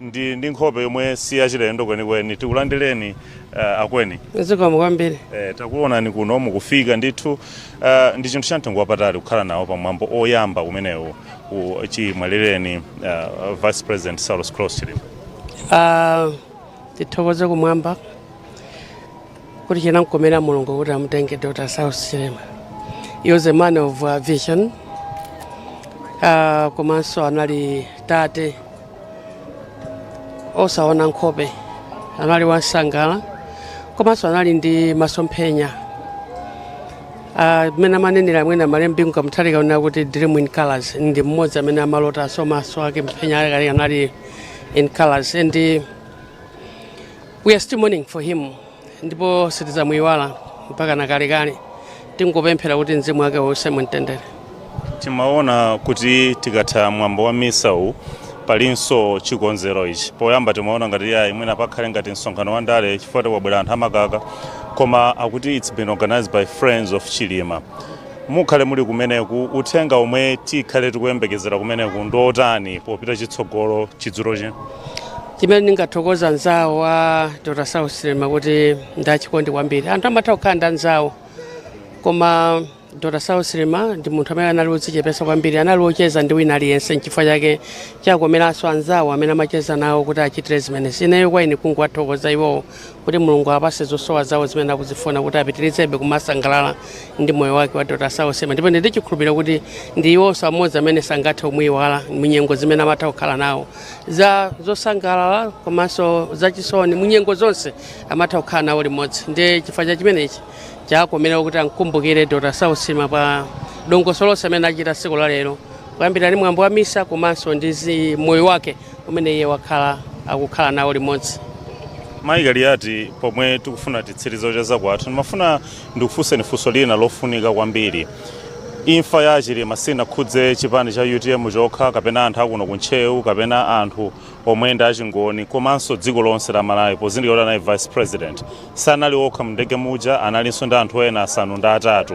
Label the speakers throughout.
Speaker 1: ndi ndi nkhope yomwe si yachilendo kwenikweni tikulandireni uh, akweni zikomo kwambiri
Speaker 2: eh, takuonani kuno
Speaker 1: mukufika ndithu uh, ndi chinthu cha mtengo wapatali kukhala nawo pa mwambo oyamba umenewu u- chimwalireni uh, vice president saulos klaus chilima Ah, tithokoze
Speaker 2: kumwamba kuti chinamkomera mulungu kuti amutenge dr saulos chilima he was a man of uh, vision uh, komanso anali tate osaona nkhope anali wansangala komanso anali ndi masomphenya mmene uh, amanenera abambo a malemu bingu wa mutharika uja kuti dream in colors ndi mmodzi amene amalota so maso ake mphenya ake anali in colors and We are still mourning for him ndipo sitizamuyiwala mpaka na kalekale tingopemphera kuti mzimu wake uuse mumtendere timaona
Speaker 1: kuti tikatha mwambo wa misa uwu palinso chikonzero ichi poyamba timaona ngati yayi mwina pakhale ngati msonkhano wa ndale chifukwa choti kwabwera anthu amakaka koma akuti it's been organized by friends of chilima mukhale muli kumeneku uthenga omwe tikhale tikuyembekezera kumeneku ndi otani popita chitsogolo chakumadzulo chino
Speaker 2: chimene ndingathokoza anzawo a dr saulos chilima kuti ndi achikondi kwambiri anthu amatha kukhala ndi anzawo koma dr saulos chilima ndi munthu amene anali wodzichepetsa kwambiri anali wocheza ndi wina aliyense nchifukwa chake chakomeranso anzawo amene amacheza nawo kuti achitire zimenezi ineyo kwa ine kungowathokoza iwowo kuti mulungu apase zosowa zawo zimene akuzifuna kuti apitirizebe kumasangalala ndi moyo wake wa dr saulos chilima ndipo ndi chikhulupiriro kuti ndi iwonso amodzi amene sangathe kumuyiwala munyengo zimene amatha kukhala nawo za zosangalala komanso zachisoni munyengo zonse amatha kukhala nawo limodzi ndi chifukwa cha chimenechi chakomera kuti amkumbukire dr saulos chilima pa dongosolo lonse amene achita tsiku la lero kuyambira ndi mwambo wa misa komanso ndi zi- moyo wake umene iye wakhala akukhala nawo limodzi mayi
Speaker 1: kaliyati pomwe tikufuna titsirize kucheza kwathu ndimafuna Ndikufunseni funso lina lofunika kwambiri. Imfa ya a Chilima sinakhudze chipani cha utm chokha kapena anthu akuno ku Ntcheu kapena anthu omwe ndi a Chingoni komanso dziko lonse la Malawi pozindikira kuti anali Vice President. Sanali okha mu ndege muja analinso ndi anthu ena asanu ndi atatu.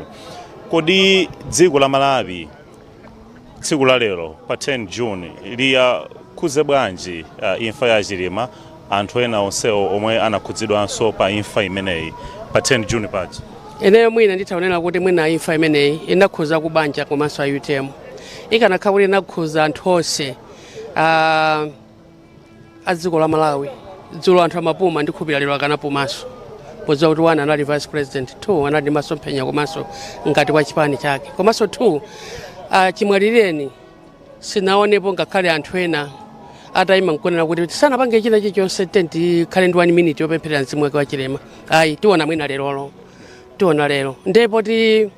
Speaker 1: Kodi dziko la Malawi tsiku la lero pa 10 june liyakhuze bwanji uh, imfa ya chilima anthu ena onsewo omwe anakhudzidwanso pa imfa imeneyi pa 10 june paja ineyo
Speaker 2: mwina nditha kunena kuti mwina imfa imeneyi inakhuza kubanja komanso a utm ikanakhala kuti inakhuza anthu onse ah, a dziko la malawi dzulo anthu amapuma ndi khulupirira lero akanapumanso podziwa kuti one anali vice president two anali ndi masomphenya komanso ngati wa chipani chake komanso two ah, chimwalireni sinaonepo ngakhale anthu ena atayima nkunena kuti sanapange china chilichonse tenti tikhale ndi one minute yopempherera mzimu wake wa chilima ayi tiona mwina lerolo tiona lero ndipo ti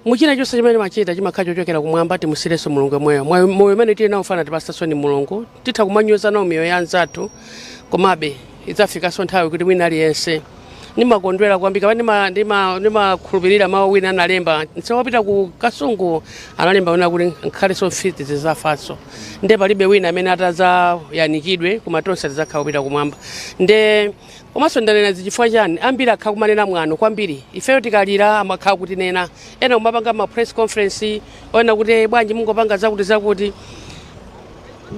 Speaker 2: muchina chonse chimene timachita chimakhala chochokera kumwamba timusiyirenso mulungu yemweyo Mwa- moyo umene tili nawo fe anatipatsanso ndi mulungu titha kumanyoza nawo miyoyo ya anzathu komabe idzafikanso nthawi kuti wina aliyense ndimakondwera kwambiri kapena ndima- ndima- ndimakhulupirira mawu wina analemba nsewu wapita ku kasungu analemba wina kuti ngakhalenso mfiti zidzafanso nde palibe wina amene atadzayanikidwe koma tonse tidzakhala kupita kumwamba nde Komanso ndanena izi chifukwa chani? Ambiri akhala kumanena mwano kwambiri. Ifeyo tikalira amakhala kutinena. Ena kumapanga ma press conference onena kuti "Eh, bwanji mungopanga zakuti zakuti.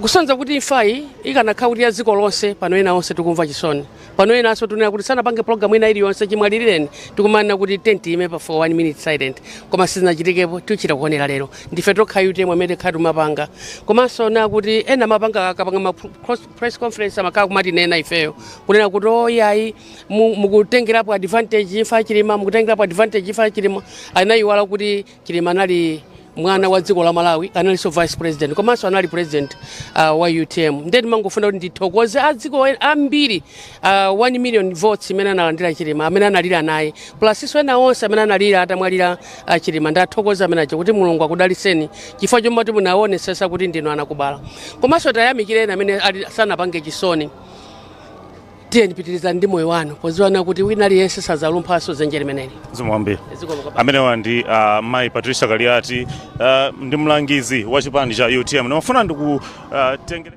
Speaker 2: Kusonyeza kuti imfayi ikanakhala kuti ya dziko lonse pano ena onse tikumva chisoni. Pano enanso tunena kuti sanapange program ina iliyonse chimwalirireni tikumanena kuti tenti ime pa for one minute silent. Koma sizinachitikepo tichita kuonera lero. Ndife tokha utm amene tikhala timapanga. Komanso onena kuti ena amapanga akapanga ma pro- cross press conference amakhala kumatinena ifeyo kunena kuti oyayi oh, mukutengerapo advantage imfa ya chilima mukutengerapo advantage imfa ya chilima anayiwala kuti chilima anali mwana wa dziko la malawi analinso vice president komanso anali president uh, wa utm nde ndimangofuna kuti ndithokoze a dziko ambiri uh, 1 million votes imene analandira chilima amene analira naye plasinso ena onse amene analira atamwalira uh, chilima ndathokoza amene aja kuti mulungu akudalitseni chifukwa chomwe munaonetsetsa kuti ndinu anakubala komanso tiyamikire ena amene ali- sanapange chisoni tiyeni pitirizani ndi moyo wanu podziwa kuti wina aliyense sadzalumphanso dzenje limeneli zimwambi Zikomo
Speaker 1: kwambiri. amenewa ndi uh, mayi patricia kaliati uh, ndi mlangizi wa chipani cha utm ndimafuna ndikutengere